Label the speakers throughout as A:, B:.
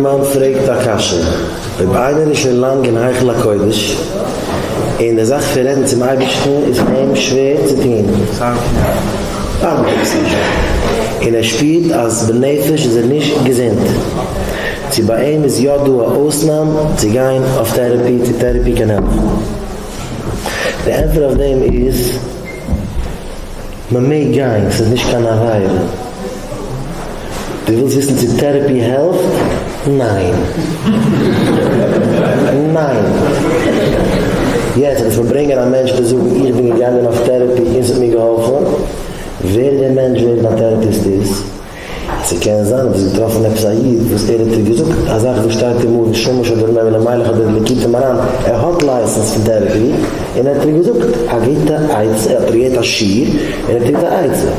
A: מען פרעגט א קשיא, אויב איינער איז שוין לאנג אין היכל הקודש, און די זאך פון רעדן צום אייבערשטן איז פאר אים שווער צו טון, און ער שפירט אז בנפש איז ער נישט געזונט, צו ביי אים איז יא דא א אויסנאם צו גיין אויף טערעפי, צו טערעפי קען העלפן? די ענטפער אויף דעם איז. מען מעג גיין ס'איז נישט קיין עבירה. דו ווילסט וויסן צו טערעפי העלפט? ניין. ניין. יעצט זאל איך מיר ברענגען א מענטש צו זאגן איך בין געגאנגען אויף טערעפי און ס'האט מיר געהאלפן. ווער דער מענטש ווער דער טערעפיסט איז. ס'קען זיין אז דו האסט געטראפן עפעס א איד וואס ער האט דיר געזאגט א זאך וואס שטייט אין מאור ושמש אדער אין אוהל המלך אדער אין ליקוטי מוהראן, ער האט לייסענס פון טערעפי און ער האט דיר געזאגט א גוטע עצה, ער האט דיר געגעבן א שיעור און ער האט דיר געזאגט א עצה,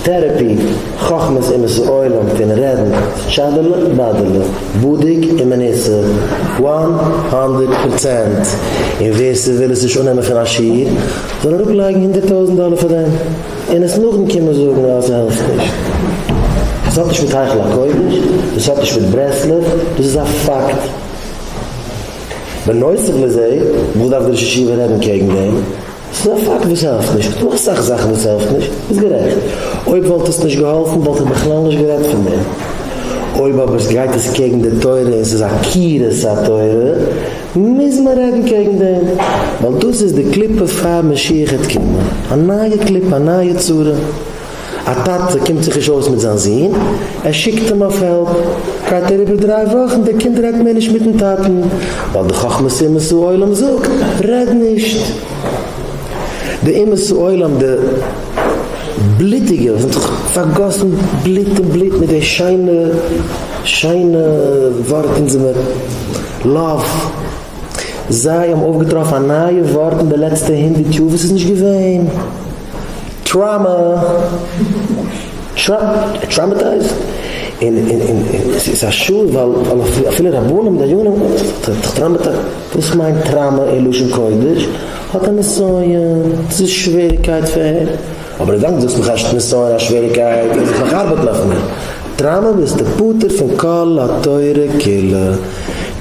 A: טערעפי, חכמת אומות העולם פון רעדן טשאדעלע באדעלע, בדוק ומנוסה, וואן האנדערט פראצענט, און ווער ס'וויל עס נישט אננעמען פון א שיעור זאל אראפלייגן הונדערט טויזענט דאלער פאר דעם. און עס נאכדעם קומען זאגן אז ס'העלפט נישט. דאס האט נישט מיט היכל הקודש, דאס האט נישט מיט ברסלב, דאס איז א פאקט. בנוסף לזה, וואס דארף דער ראש ישיבה רעדן קעגן דעם? ס'איז א פאקט וואס ס'העלפט נישט. ס'דא אסאך זאכן וואס ס'העלפט נישט, ביסט גערעכט. אויב וואלט עס נישט געהאלפן וואלט ער בכלל נישט גערעדט פון דעם. אויב אבער גייט עס קעגן די תורה און ס'איז עקירת התורה, מוז מען רעדן קעגן דעם, ווייל דאס איז די קליפה פאר משיח העט קומען, א נייע קליפה, א נייע צרה, א טאטע קומט זיך נישט אויס מיט זיין זון, ער שיקט אים אויף העלפ, גייט אריבער דריי וואכן, דער קינד רעדט מער נישט מיטן טאטן, ווייל די חכמת אומות העולם זאגט, רעד נישט. די אומות העולם, די בלוטיגע, וואס האבן זיך פארגאסן בלוט און בלוט מיט די שיינע, שיינע ווארט אונז זעמיר לאָוו. זיי האָבן אויפֿגעטראָפֿן אַ נײַע וואָרט אין די לעצטע הונדערט יאָר, וואָס איז נישט געווען, טראַמאַ. טראַ, טראַמאַטײַזד. און, און, און, און עס איז אַ שאָד, ווײַל, ווײַל אַפֿ, אַפֿילו רבנים, דיינים, ט'איז דאָך טראַמאַטײַ. וואָס מיינט טראַמאַ אין לשון-קודש? האָט ער נסיון? ס'איז שוועריקייט פֿאַר אים. אבער אזאנס זאגסט מיך אשת נסיון א שוועריקייט אז איך מאך ארבעט נאך מער טראמא ביסטו פטור פון כל התורה כולה,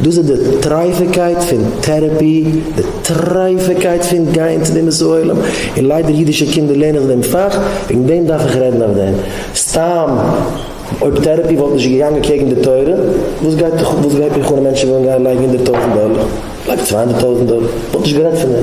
A: דאס איז די טרייפעקייט פון טערעפי, די טרייפעקייט פון גיין צו די מסור עולם, און ליידער אידישע קינדער לערנען זיך דעם פאך, וועגן דעם דארף איך רעדן אויף דעם, סתם אויב טערעפי וואלט נישט געגאנגען קעגן די תורה, וואס גייט וואס גייט מיך אן מענטשן ווילן גיין לייגן הונדערט טויזנט דאלער, לייג צוויי הונדערט טויזנט דאלער, כ'וואלט נישט גערעדט פון דעם.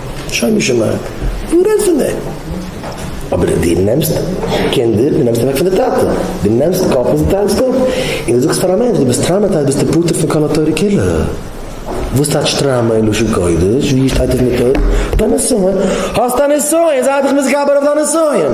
A: שוין געשמאק, וואו רעדט פון דעם? אבער אז דו נעמסט קינדער, דו נעמסט אוועק פון די טאטע, דו נעמסט קאפ און זי טאנצט אפ, און דו זאגסט פאר א מענטש דו ביסט טראמעטייזט ביסטו פטור פון כל התורה כולה. וואס טייטש טראמא אין לשון קודש? ווי שטייט אויף מיטה? דיין נסיון? האסט א נסיון, זיי דיך מתגבר אויף דיין נסיון.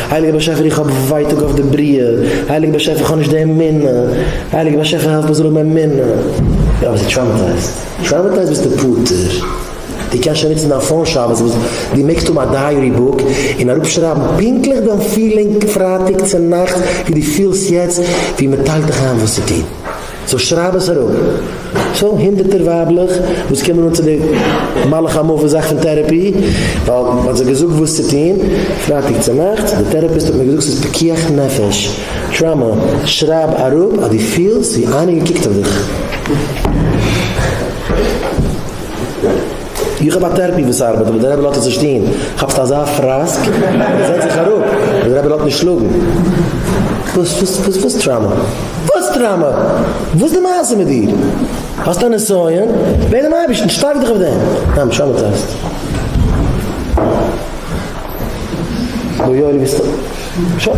A: הייליגער באשעפער איך האב ווייטאג אויף די בריאה, הייליגער באשעפער איך האב נישט די אמונה, הייליגער באשעפער העלף מיר זאל האבן אמונה. יא אבער ס'איז טראומעטייזד, טראומעטייזד ביסטו פטור, דו קענסט שוין נוצן דיין פאון שבת וואס דו מעגסט האבן א דייערי בוק און אראפ שרייבן פונקטליך דיין פילינג פרייטאג צונאכטס ווי דו פילסט יעצט ווי מ'טיילט דיך איין וואס צו טון. סאו שרייב עס אראפ. סאו הונדערטער ווייבלעך וואס קומען אן צו די מלאך המוות זאך פון טערעפי ווייל מען האט זיי געזאגט וואס צו טון, פרייטאג צונאכטס, די טערעפיסט האט מיר געזאגט ס'איז פיקוח נפש, טראמא, שרייב אראפ אז דו פילסט ווי איינער געקוקט אויף דיך. איך האב א טערפי וואס ארבעט אבער דער רבי לאזט עס נישט טון, כאפסט אזא פראסק און זעץ זיך אראפ אבער דער רבי לאזט נישט שלאגן. וואס וואס וואס וואס טראמא? וואס טראמא? וואס די מעשה מיט דיר? האסט א נסיון? בעט דעם אייבערשטן, שטארק דיך אויף דעם. ניין טראמעטייזט. אוי אוי ביסט א. שוין.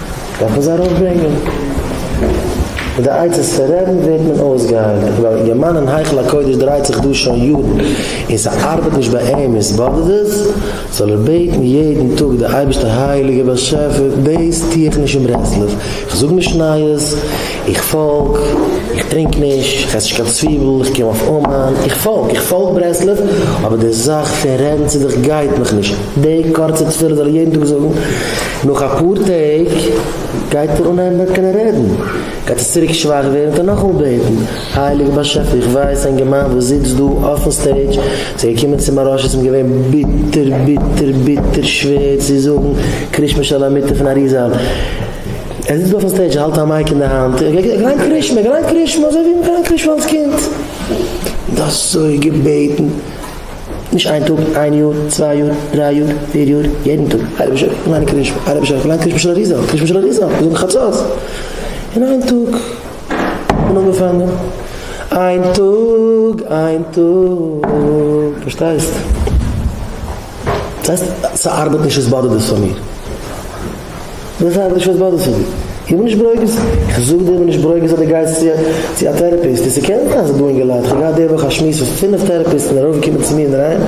A: דארף מען זיי ארויפברענגען. מיט די עצות פון רעדן ווערט מען אויסגעהיילט. ווייל יעמאן אין היכל הקודש דרייט זיך דא שוין יארן און ס'ארבעט נישט ביי אים און ס'באדערט עס, זאל ער בעטן יעדן טאג די אייבערשטער הייליגער באשעפער, דאס טו איך נישט אין ברסלב, איך זאג נישט נייעס, איך פאלג, איך טרינק נישט, איך עס נישט קיין צוויבל, איך קום אויף אומאן, איך פאלג, איך פאלג ברסלב, אבער די זאך פון רעדן צו דיך גייט מיך נישט. די קורצע תפילה זאל ער יעדן טאג זאגן. נאך אפאר טעג גייט ער אנהייבן ווען קען ער רעדן, גייט עס צוריק שוואך ווערן וועט ער נאכאמאל בעטן, הייליגער באשעפער איך ווייס אין געמיינדע וואס זיצט דא אויפן סטעידזש זיי געקומען צום מהראש עס אים געווען ביטער ביטער ביטער שווער צו זאגן קרישמע של המיטה פון אריזאל, ער זיצט דא אויפן סטעידזש האלט א מייק אין די האנט און געליינט קרישמע געליינט קרישמע אזוי ווי מ'געליינט קרישמע אלס קינד, און אזוי געבעטן. נישט איין טאג, איין יאר, צוויי יאר, דריי יאר, פיר יאר, יעדן טאג, אייבערשטער פארליין קדיש, אייבערשטער פארליין קדיש משל אריזה, קדיש משל אריזה, מיר זאגן חצות, און איין טאג, און אנגעפאנגען, איין טאג, איין טאג, פארשטייסט? ס'הייסט ס'ארבעט נישט, עס באדערט דאס פאר מיר. זיי זאגן נישט וואס באדערט זיך דיר. איך בין נישט ברוגז, איך זאג דיר איך בין נישט ברוגז אז דו גייסט צו א טערעפיסט, און ס'קען זיין אז ס'איז דא אינגעלייט, איך האב געהאט די וואך א שמועס מיט פינף טערעפיסטן און רוב קומען צו מיר אינדערהיים,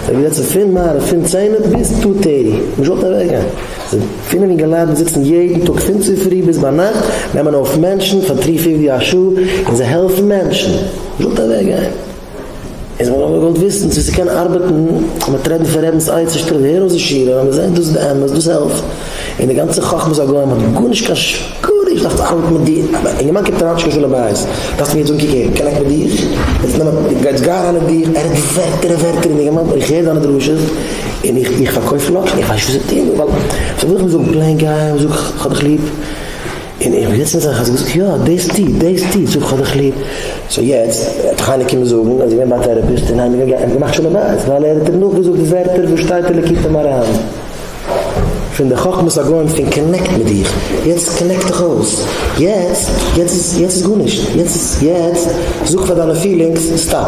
A: זיי האבן געזעצן פון מעריב פון צענע ביז טו טערטי, נישט געוואלט אוועקגיין, זענען פינף אינגעלייט וואס זיצן יעדן טאג פון צופרי ביז ביינאכט, נעמען אויף מענטשן פאר טרי פיפטי א שעה, און זיי העלפן מענטשן, נישט געוואלט אוועקגיין. איז מען אבער געוואלט וויסן צו ס'קען ארבעטן, האט מען טרעטן פון רעבינ'ס עצה שטעל הער אויס די שירה, ווען מ'זעט דאס איז די אמת, דאס העלפט, און די גאנצע חכמת הגוים האט גארנישט קיין ש ק, דו דארפסט ארבעטן מיט דיר, א אינגערמאן קומט אריין שלום בית, דארפסט מיר יעצט אנקוקן און קען איך מיט דיר, יעצט נעם א, גייט גיי אריין אין דיך, ער רעדט ווערטער און ווערטער און אינגערמאן איך הער דיינע דרשות, און איך איך פארקויף לאקשן, איך ווייס נישט וואס צו טון, ווייל, וואס זאל איך אים זאגן, פלעין גיי און זאג איך האב דיך ליב, און איך בין יעצט אין זיך האסט געזאגט יא דאס טו דאס טו זאג כ'האב דיך ליב סאו יעצט וועט חיים קומען זאגן אז איך בין ביי א טערעפיסט און היינו געווען האבן געמאכט שלום בית ווייל ער האט אים נאכגעזאגט די ווערטער וואס שטייט אין ליקוטי מוהר ן פון די חכמת הגוים פון קאנעקט מיט דיך יעצט קאנעקט דיך אויס יעצט יעצט איז גארנישט יעצט זאג פאר דיינע פילינגס סטאפ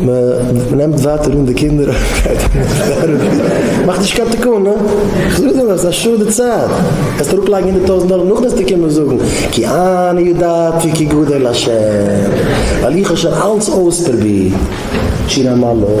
A: מען נעמט ווייטער אן די קינדער מאך נישט קיין תיקון הא? כ'זאג דיר נאך ס'איז א שאדע צייט וועסט אראפלייגן הונדערט טויזנט דאלער נאכדעם וועסטו קומען זאגן כי אני ידעתי כי גדול השם ווייל איך האב שוין אלץ אויספרובירט שיר המעלות